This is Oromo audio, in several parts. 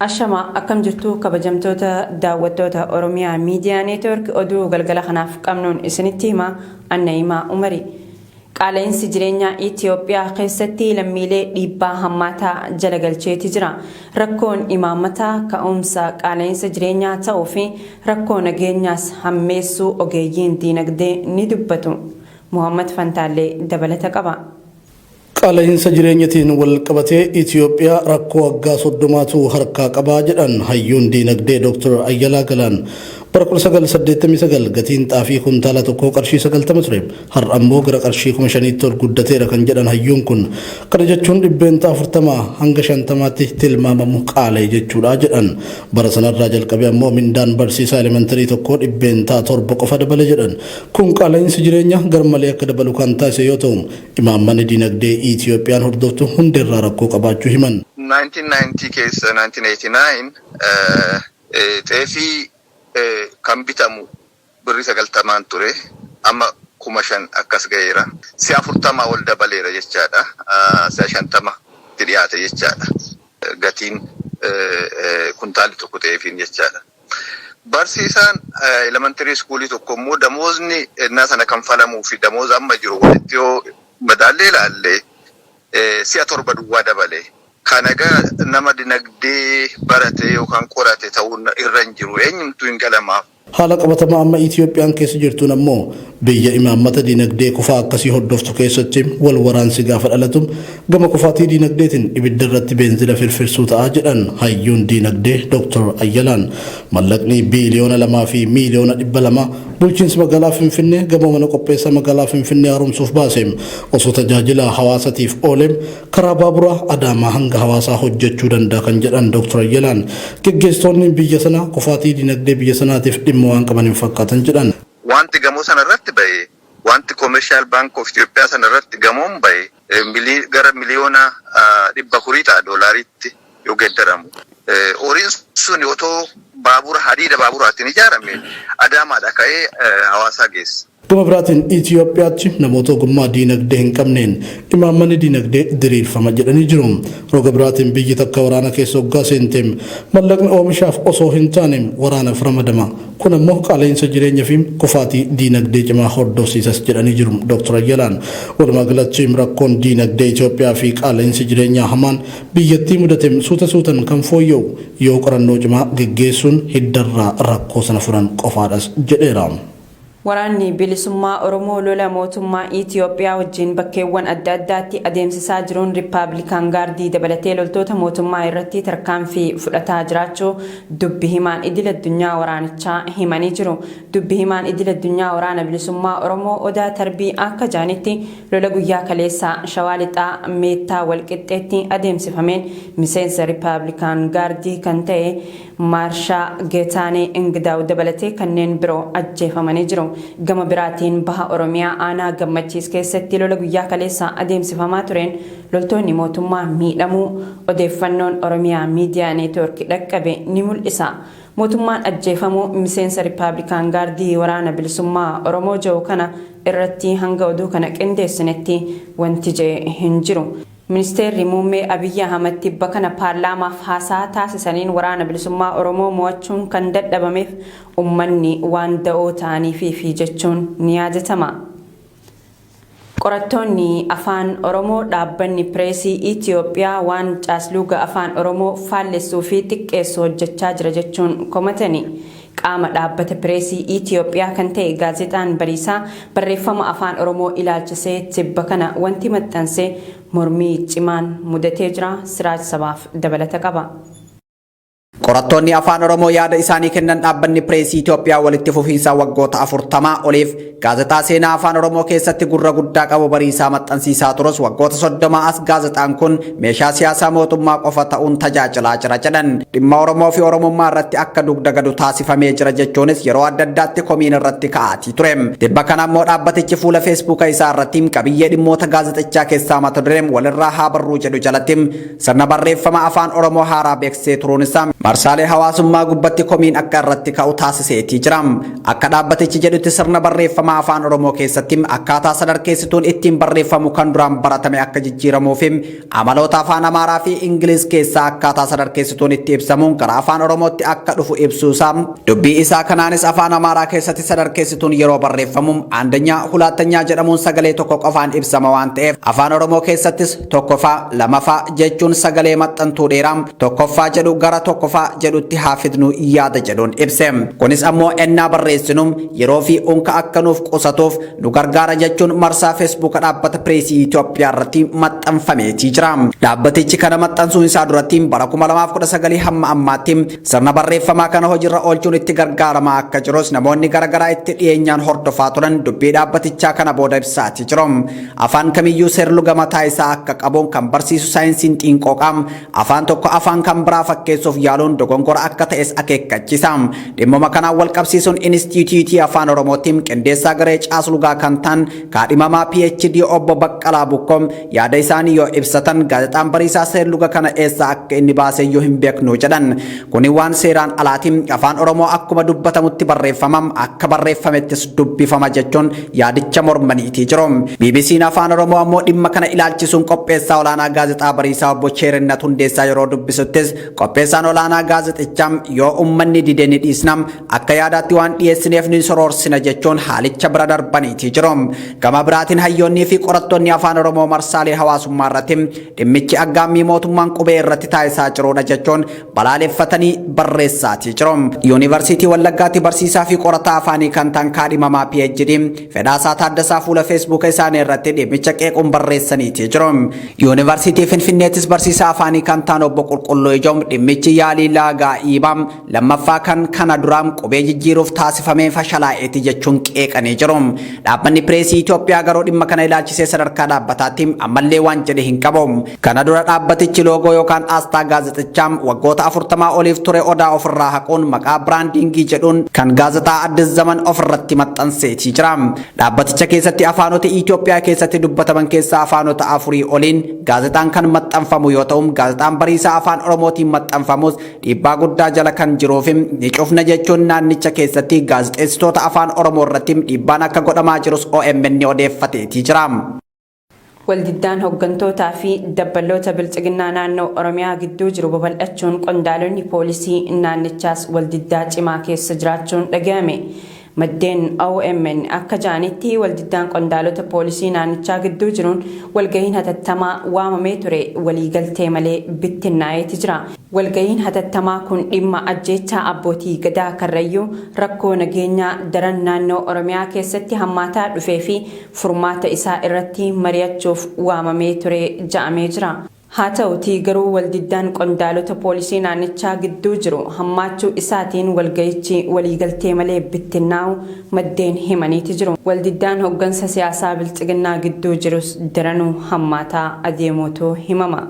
Ashama akkam jirtu kabajamtoota daawwattoota Oromiyaa Miidiyaa Neetwoork oduu galgala kanaaf qabnuun isinitti hima Anna'imaa Umarii. Qaala'insi jireenyaa Itiyoophiyaa keessatti lammiilee dhiibbaa hammaataa jala galcheeti jira. Rakkoon imaammataa ka'umsa qaala'insa jireenyaa ta'uu fi rakkoo nageenyaas hammeessuu ogeeyyiin diinagdee ni dubbatu. Mohaammad Fantaallee dabalata qaba. Qaala'insa jireenyatiin walqabatee Itiyoophiyaa rakkoo waggaa soddomaatu harkaa qaba jedhan hayyuun diinagdee Doktar Ayyalaa Galaan. Bara 1989 gatiin xaafii kuntaala tokkoo qarshii 90 ture. Har'a immoo gara qarshii 5,000tti ol guddateera kan jedhan hayyuun kun, kana jechuun dhibbeentaa 40 hanga 50tti tilmaamamu qaala'e jechuudha jedhan. Bara sanarraa jalqabee ammoo mindaan barsiisaa elementarii tokkoo dhibbeentaa 7 qofa dabale jedhan. Kun qaala'iinsi jireenyaa garmalee akka dabalu kan taasise yoo ta'u, imaammanni diinagdee Itiyoophiyaan hordoftu hundeerraa rakkoo qabaachuu himan. 1990 keessa, 1989, Xeefii kan bitamu birrii 90n ture amma 5000 akkas gaheera. Si'a 40 ol dabaleera jechaadha. Si'a 50tti dhiyaate jechaadha gatiin kuntaalli tokko xeefiin jechaadha. Barsiisaan elementary iskuulii tokko immoo damoozni ennaa sana kanfalamuu fi damooza amma jiru walitti yoo madaallee ilaalle si'a 7 duwwaa dabale. Kan egaa nama dinagdee barate yookaan qorate ta'uun irra hin jiru. Eenyumtuu hin galamaaf. Haala qabatamaa amma Itiyoophiyaan keessa jirtuun ammoo biyya imaammata dinagdee kufaa akkasii hordoftu keessatti wal waraansi gaafa dhalatu gama kufaatii dinagdeetiin ibidda irratti beenzila firfirsuu ta'a jedhan hayyuun dinagdee Doktar Ayyalaan. Mallaqni biiliyoona lamaa fi miiliyoona dhibba lama bulchiinsi magaalaa Finfinnee gamoo mana qopheessaa magaalaa Finfinnee haaromsuuf baase osoo tajaajila hawaasatiif oole Karaa baaburaa Adaamaa hanga Hawaasaa hojjechuu danda'a kan jedhan Dooktar Ayyalaan, geggeessitoonni biyya sanaa kufaatii dinagdee biyya sanaatiif dhimma waan qaban hin fakkaatan jedhan. Waanti gamoo sana irratti bahe, waanti Commercial Bank of Ethiopia sana irratti gamoon bahe gara miliyoona 400 ta'a doolaariitti. yoo geeddaramu, horiin sun otoo baabura hadiida baaburaatiin ijaarame Adaamaadhaa ka'ee Hawaasaa geessa. Gama biraatiin Itiyoophiyaatti namoota ogummaa diinagdee hin qabneen imaammanni diinagdee diriirfama jedhanii jiru. Roga biraatiin biyyi takka waraana keessa oggaa seente mallaqni oomishaaf osoo hin taane waraanaf ramadama. Kun ammoo qaala'insa jireenya fi kufaatii diinagdee cimaa hordofsiisas jedhanii jiru Dooktar Ayyalaan. Walumaa galatti rakkoon diinagdee Itiyoophiyaa fi qaala'insi jireenyaa hamaan biyyattii mudatem suuta suutan kan fooyya'u yoo qorannoo cimaa geggeessuun hiddarraa rakkoo sana furan qofaadhas jedheera. Waraanni Bilisummaa Oromoo lola mootummaa Itiyoophiyaa wajjin bakkeewwan adda addaatti adeemsisaa jiruun Rippaablikaan Gaardii dabalatee loltoota mootummaa irratti tarkaanfii fudhataa jiraachuu dubbi himaan idil addunyaa waraanichaa himanii jiru. Dubbi himaan idil addunyaa Waraana Bilisummaa Oromoo Odaa Tarbii akka jedhanitti, Lola guyyaa kaleessaa Shawaa Lixaa Meettaa Walqixxeetti adeemsifameen miseensa Rippaabilikaan Gaardii kan ta'e Maarshaa Getaanee Ingidaaw dabalatee kanneen biroo ajjeefamanii jiru. Gama biraatiin Baha Oromiyaa Aanaa Gammachiis keessatti lola guyyaa kaleessaa adeemsifamaa tureen loltoonni mootummaa miidhamuu odeeffannoon Oromia Media Network dhaqqabe ni mul'isa. Mootummaan ajjeefamuu miseensa Rippaabilikaan Gaardii Waraana Bilisummaa Oromoo Jawo kana irratti hanga oduu kana qindeessinetti wanti ja'e hin jiru. Ministeerri Muummee Abiyyi Ahmad tibba kana paarlaamaaf haasaa taasisaniin Waraana Bilisummaa Oromoo mo'achuun kan dadhabameef ummanni waan da'oo ta'aniifiifi jechuun ni yaadatama. Qorattoonni Afaan Oromoo Dhaabbanni Pireesii Itiyoophiyaa waan caasluuga Afaan Oromoo faallessuu fi xiqqeessu hojjechaa jira jechuun komatani. Qaama Dhaabbata Pireesii Itiyoophiyaa kan ta'e Gaazexaan Bariisaa barreeffama Afaan Oromoo ilaalchisee tibba kana wanti maxxanse mormii cimaan mudatee jira. Siraaj Sabaaf dabalata qaba. Qorattoonni Afaan Oromoo yaada isaanii kennan Dhaabbanni Pireesii Itiyoophiyaa walitti fufiinsa waggoota 40 oliif, Gaazexaa seenaa Afaan Oromoo keessatti gurra guddaa qabu Bariisaa maxxansiisaa turus waggoota 30 as gaazexaan kun meeshaa siyaasaa mootummaa qofa ta'uun tajaajilaa jira jedhan. Dhimma Oromoo fi Oromummaa irratti akka dugda gadu taasifamee jira jechuunis yeroo adda addaatti komiin irratti ka'aatii ture. Tibba kana immoo dhaabbatichi fuula feesbuuka isaa irratti qabiyyee dhimmoota gaazexichaa keessaa mata dureen walirraa haa barruu jedhu jalatti sirna barreeffama Afaan Oromoo haaraa beeksisee turuun isaa marsaalee hawaasummaa gubbatti komiin akka irratti ka'u taasiseetii jira. Akka dhaabbatichi jedhutti sirna barreeffama Afaan Oromoo keessatti akkaataa sadarkeessituun ittiin barreeffamu kan duraan baratame akka jijjiiramuu fi amaloota Afaan Amaaraa fi Ingiliz keessaa akkaataa sadarkeessituun itti ibsamuun gara Afaan Oromootti akka dhufu ibsuu isaa dubbii isaa kanaanis Afaan Amaaraa keessatti sadarkeessituun yeroo barreeffamu aandanyaa, hulaattanyaa jedhamuun sagalee tokko qofaan ibsama waan ta'eef Afaan Oromoo keessattis tokkofaa, lamafaa jechuun sagalee maxxantuu dheeraa tokkoffaa jedhu gara tokkofaa jedhutti haa fidnu yaada jedhuun ibse. Kunis ammoo ennaa barreessinu yeroo fi unka akka nuuf qusatuuf nu gargaara jechuun marsaa Feesbuuka Dhaabbata Pireesii Itoophiyaa irratti maxxanfameetii jira. Dhaabbatichi kana maxxansuun isaa duratti bara 2019 hamma ammaatti sirna barreeffamaa kana hojiirra oolchuun itti gargaaramaa akka jirus namoonni garaagaraa itti dhiyeenyaan hordofaa turan dubbii dhaabbatichaa kana booda ibsaatii jiru. Afaan kamiyyuu seerluga mataa isaa akka qabu kan barsiisu saayinsiin xiinqooqa, afaan tokko afaan kan biraa fakkeessuuf yaaluun dogongora akka ta'es akeekkachisa. Dhimmuma kanaan walqabsiisuun Inistiitiyuutii Afaan Oromootti qindeessaa garee caaslugaa kan ta'an kaadhimamaa PhD Obbo Baqqalaa Bukkoo yaada isaanii yoo ibsatan, Gaazexaan Bariisaa seerluga kana eessaa akka inni baaseyyuu hin beeknu jedhan. Kuni waan seeraan alaati. Afaan Oromoo akkuma dubbatamutti barreeffama, akka barreeffamettis dubbifama jechuun yaadicha mormaniitii jiru. BBC'n Afaan Oromoo ammoo dhimma kana ilaalchisuun qopheessaa olaanaa Gaazexaa Bariisaa Obbo Cheerinnat Hundeessaa yeroo dubbisuttis qopheessaan olaanaa gaazexichaa yoo ummanni dide ni dhiisna, akka yaadaatti waan dhiyeessineef ni soroorsina jechuun haalicha bira darbaniitii jiru. Gama biraatiin hayyoonnii fi qorattoonni Afaan Oromoo marsaalee hawaasummaa irratti Dhimmichi aggaammii mootummaan qubee irratti taasisaa jiruudha jechuun balaaleffatanii barreessaatii jiru. Yuunivarsiitii Wallaggaatti barsiisaa fi qorataa afaanii kan ta'an kaadhimamaa PhD Fedhaasaa Taaddasaa fuula Feesbuuka isaanii irratti dhimmicha qeequun barreessaniitii jiru. Yuunivarsiitii Finfinneettis barsiisaa afaanii kan ta'an obbo Qulqulluu Ijoom dhimmichi yaalii laagaa iibaa Lammaffaa kan kana dura qubee jijjiiruuf taasifamee fashalaa'eeti jechuun qeeqanii jiru. Dhaabbanni Pireesii Itoophiyaa garuu dhimma kana ilaalchisee sadarkaa dhaabbataatti ammallee waan jedhe hin qabu. Kana dura dhaabbatichi loogoo yookaan aasxaa gaazexichaa waggoota 40 oliif ture Odaa ofirraa haquun maqaa biraandiingii jedhuun kan gaazexaa Addis Zaman ofirratti maxxanseetii jira. Dhaabbaticha keessatti afaanota Itoophiyaa keessatti dubbataman keessaa afaanota afurii oliin gaazexaan kan maxxanfamu yoo ta'u, gaazexaan Bariisaa Afaan Oromootiin maxxanfamus Dhiibbaa guddaa jala kan jiruufi ni cufna jechuun naannicha keessatti gaazexeessitoota Afaan Oromoo irratti dhiibbaan akka godhamaa jirus omn odeeffateetii jira. Waldiddaan hoggantootaa fi dabballoota Bilxiginnaa naannoo Oromiyaa gidduu jiru babal'achuun qondaalonni poolisii naannichaas waldiddaa cimaa keessa jiraachuun dhaga'ame. Maddeen omn akka ja'anitti waldiddaan qondaalota poolisii naannichaa gidduu jiruun walgahiin hatattamaa waamamee ture waliigaltee malee bittinnaa'eeti jira. Walgahiin hatattamaa kun dhimma ajjeechaa abbootii Gadaa Karrayyuu, rakkoo nageenyaa daran naannoo Oromiyaa keessatti hammaataa dhufee fi furmaata isaa irratti mari'achuuf waamamee ture ja'amee jira. Haa ta'utii garuu waldiddaan qondaalota poolisii naannichaa gidduu jiru hammaachuu isaatiin walga'ichi waliigaltee malee bittinnaa'u maddeen himaniiti jiru. Waldiddaan hoggansa siyaasaa Bilxiginnaa gidduu jirus daranuu hammaataa adeemuutu himama.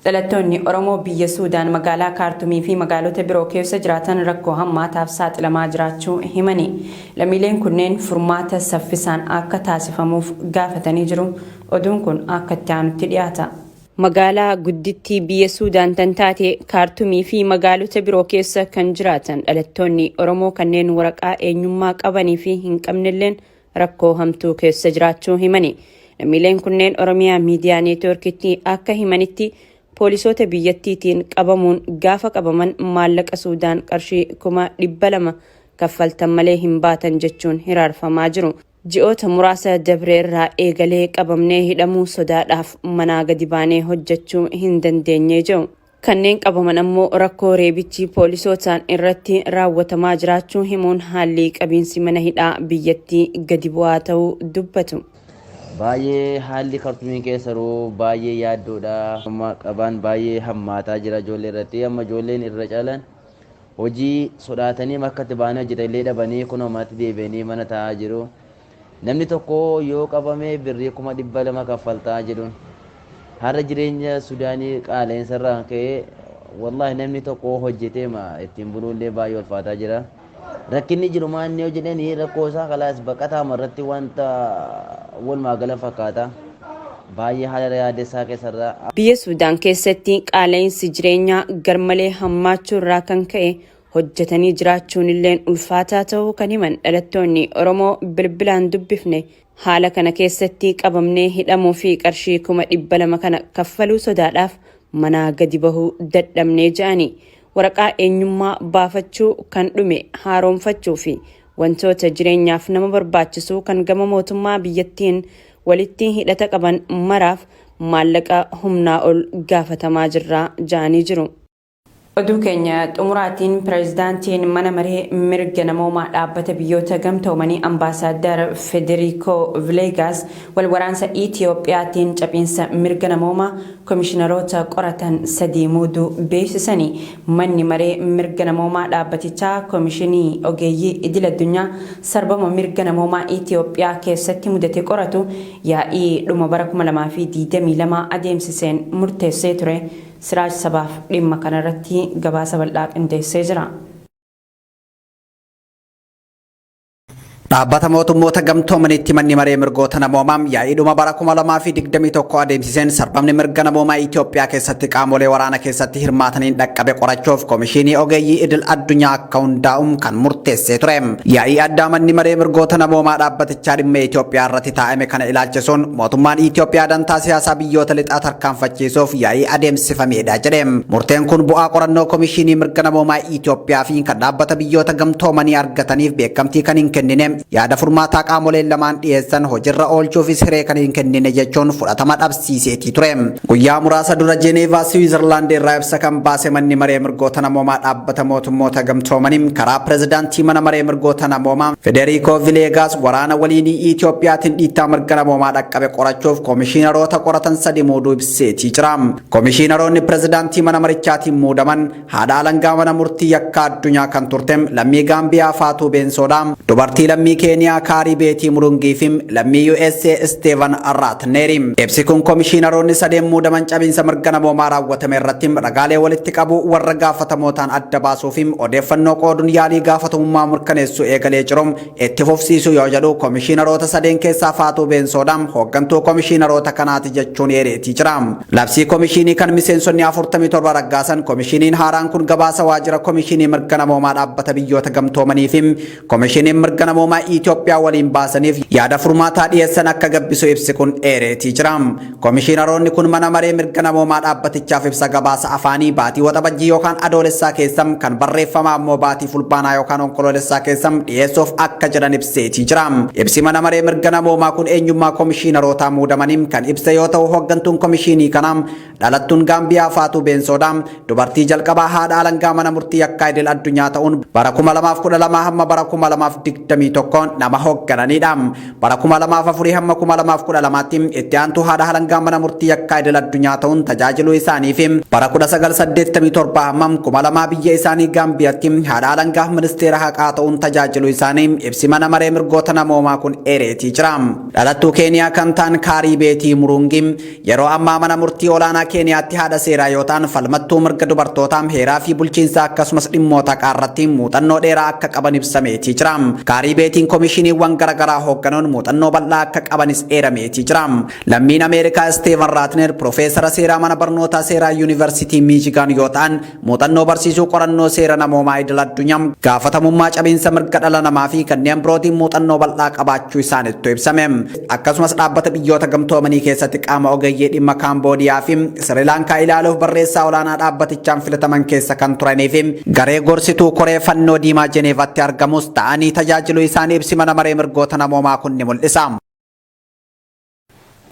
Dhalattoonni Oromoo biyya Suudaan magaalaa Kaartumii fi magaalota biroo keessa jiraatan rakkoo hammaataaf saaxilamaa jiraachuu himanii, lammiileen kunneen furmaata saffisaan akka taasifamuuf gaafatanii jiru. Oduun kun akka itti aanutti dhiyaata. Magaalaa guddittii biyya Suudaan tan taate Kaartumii fi magaalota biroo keessa kan jiraatan dhalattoonni Oromoo kanneen waraqaa eenyummaa qabanii fi hin qabnelleen rakkoo hamtuu keessa jiraachuu himani. Lammiileen kunneen Oromiyaa Miidiyaa Neetwoorkitti akka himanitti poolisoota biyyattiitiin qabamuun gaafa qabaman maallaqa Suudaan qarshii kuma 200 kaffaltan malee hin baatan jechuun hiraarfamaa jiru. Ji'oota muraasa dabre irraa eegalee qabamnee hidhamuu sodaadhaaf manaa gadi baanee hojjechuu hin dandeenye jedhu. Kanneen qabaman ammoo rakkoo reebichi poolisootaan irratti raawwatamaa jiraachuu himuun haalli qabiinsi mana hidhaa biyyattii gadi bu'aa ta'uu dubbatu. Baay'ee haalli Kartumiin keessa jiru baay'ee yaaddoodha. Amma qabaan baay'ee hammaataa jira ijoollee irratti. Amma ijoolleen irra caalaan hojii sodaatanii makkatti ba'anii hojjetan illee dhabanii kunoo manatti deebi'anii mana taa'aa jiru. Namni tokko yoo qabame birrii kuma dhibba lama kaffaltaa jedhuun. Har'a jireenya Sudaanii qaala'insa irraa kan ka'e wallaahi namni tokko hojjetee ma ittiin buluu illee baay'ee ulfaataa jira. Rakkinni jiru maanni yoo jedhanii rakkoo isaa kalaas baqataa marratti wanta walumaa gala fakkaata. Baay'ee haala yaaddeessaa keessa irraa. Biyya Suudaan keessatti qaala'insi jireenyaa garmalee hammaachuu irraa kan ka'e hojjetanii jiraachuun illeen ulfaataa ta'uu kan himan dhalattoonni Oromoo bilbilaan dubbifne haala kana keessatti qabamnee hidhamuu fi qarshii kuma dhibba lama kana kaffaluu sodaadhaaf manaa gadi bahuu dadhabnee ja'ani waraqaa eenyummaa baafachuu kan dhume haaroomfachuu fi wantoota jireenyaaf nama barbaachisuu kan gama mootummaa biyyattiin walitti hidhata qaban maraaf maallaqa humnaa ol gaafatamaa jirra ja'anii jiru. Oduu keenya xumuraatiin Pireezidaantiin Mana Maree Mirga Namoomaa Dhaabbata Biyyoota Gamtoomanii Ambaasaaddar Federiikoo Vileegaas wal waraansa Itiyoophiyaatiin caphiinsa mirga namoomaa komishinaroota qoratan sadii muuduu beeksisani. Manni Maree Mirga Namoomaa dhaabbatichaa Komishinii Ogeeyyii Idil-addunyaa sarbama mirga namoomaa Itiyoophiyaa keessatti mudate qoratu yaa'ii dhuma bara 2022 adeemsiseen murteessee ture. Siraaj sabaaf dhimma kana irratti gabaasa bal'aa qindeessee jira. Dhaabbata mootummoota gamtoomaniitti manni maree mirgoota namoomaa yaa'iidhuma bara 2021 adeemsiseen sarbamni mirga namoomaa Itoophiyaa keessatti qaamolee waraana keessatti hirmaataniin dhaqqabe qorachuuf komishinii ogeeyyii idil addunyaa akka hundaa'uun kan murteessee ture. Yaa'ii addaa manni maree mirgoota namoomaa dhaabbatichaa dhimma Itoophiyaa irratti taa'ame kana ilaalchisuun mootummaan Itoophiyaa dantaa siyaasaa biyyoota lixaa tarkaanfachiisuuf yaa'ii adeemsifameedha jedhe. Murteen kun bu'aa qorannoo komishinii mirga namoomaa Itoophiyaa fi kan Dhaabbata Biyyoota Gamtoomanii argataniif beekamtii kan hin kennine, yaada furmaataa qaamoleen lamaan dhiyeessan hojirra oolchuufis hiree kan hin kennine jechuun fudhatama dhabsiiseetii ture. Guyyaa muraasa dura Jeeneevaa Siwiizarlaand irraa ibsa kan baase Manni Maree Mirgoota Namoomaa Dhaabbata Mootummoota Gamtoomanii karaa Pirezidaantii Mana Maree Mirgoota Namoomaa Federiikoo Vileegaas waraana waliinii Itoophiyaatiin dhiittaa mirga namoomaa dhaqqabe qorachuuf komishiinaroota qoratan sadi muuduu ibseetii jira. Komishiinaroonni Pirezidaantii Mana Marichaatiin muudaman Haadha alangaa mana murtii yakkaa addunyaa kan turte lammii Gaambiyaa Faatuu Beensoodha. Dubartii lammii Keeniyaa Kaarii Beetii Murungii fi lammii USA Isteevan Raatneeri. Ibsi kun komishiinaroonni sadeen muudaman cabiinsa mirga namoomaa raawwatame irratti ragaalee walitti qabuu warra gaafatamootaan adda baasuu fi odeeffannoo qooduun yaalii gaafatamummaa mirkaneessuu eegalee jiru Itti fufsiisuu yoo jedhu komishiinaroota sadeen keessaa Faatuu Beensoodha. Hooggantuu komishiinaroota kanaati jechuun eereetii jira. Labsii komishiinii kan miseensonni 47 raggaasan komishiiniin haaraan kun gabaasa waajjira komishiinii mirga namoomaa dhaabbata biyyoota gamtoomanii fi komishiiniin mirga namoomaa Itoophiyaa waliin baasaniif yaada furmaataa dhiyeessan akka gabbisu ibsi kun eereetii jira. Komishiinaroonni kun mana maree mirga namoomaa dhaabbatichaaf ibsa gabaasa afaanii baatii Waxabajjii yookaan Adoolessaa keessa, kan barreeffamaa immoo baatii Fulbaanaa yookaan Onkoloolessaa keessa dhiyeessuuf akka jedhan ibseetii jira. Ibsi mana maree mirga namoomaa kun eenyummaa komishiinarootaa muudamanii kan ibse yoo ta'u, hooggantuun komishiinii kanaa dhalattuun Gaambiyaa Faatuu Beensoodha. Dubartii jalqabaa haadha alangaa mana murtii yakkaa idil addunyaa ta'uun bara 2012 hamma bara 2021 nama hooggananiidha. Bara 2004 hamma 2012tti itti aantuu haadha alangaa mana murtii yakkaa idil addunyaa ta'uun tajaajiluu isaanii fi bara 1987 hamma 2000 biyya isaanii Gaambiyatti haadha alangaa ministeera haqaa ta'uun tajaajiluu isaanii ibsi mana maree mirgoota namoomaa kun eereetii jira. Dhalattuu Keeniyaa kan ta'an Kaarii Beetii Muruungi Yeroo ammaa mana murtii olaanaa Keeniyaatti haadha seeraa yoo ta'an falmattuu mirga dubartootaa, heeraa fi bulchiinsaa akkasumas dhimmoota haqaa irratti muuxannoo dheeraa akka qaban ibsameetii jira. Kaarii Beetiin komishiiniiwwan garagaraa hoogganuun muuxannoo bal'aa akka qabanis eerameetii jira. Lammiin Ameerikaa Isteevan Raatner pirofeesara seeraa mana barnootaa seeraa Yuunivarsiitii Miichigaan yoo ta'an, Muuxannoo barsiisuu qorannoo seera namoomaa idil addunyaa, gaafatamummaa cabiinsa mirga dhala namaa fi kanneen birootiin muuxannoo bal'aa qabaachuu isaanittu ibsame. Akkasumas dhaabbata biyyoota gamtoomanii keessatti qaama ogeeyyii dhimma Kaamboodiyaa fi Sirilaankaa ilaaluuf barreessaa olaanaa dhaabbatichaan filataman keessa kan turanii fi garee gorsituu koree fannoo diimaa Jeneevaatti argamus ta'anii tajaajiluu isaanii ibsi mana maree mirgoota namoomaa kun ni mul'isa.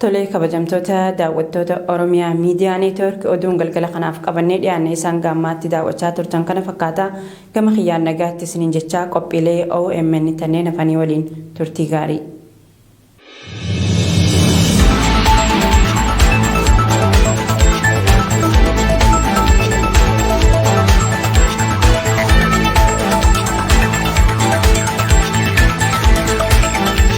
Tole kabajamtoota daawwattoota Oromiyaa Miidiyaa Neetwoork oduun galgala kanaaf qabannee dhiyaanne isaan gaammaatti daawwachaa turtan kana fakkaata gama kiyyaan nagaatti isiniin jechaa qophiilee OMN tanneen hafanii waliin turtii gaarii.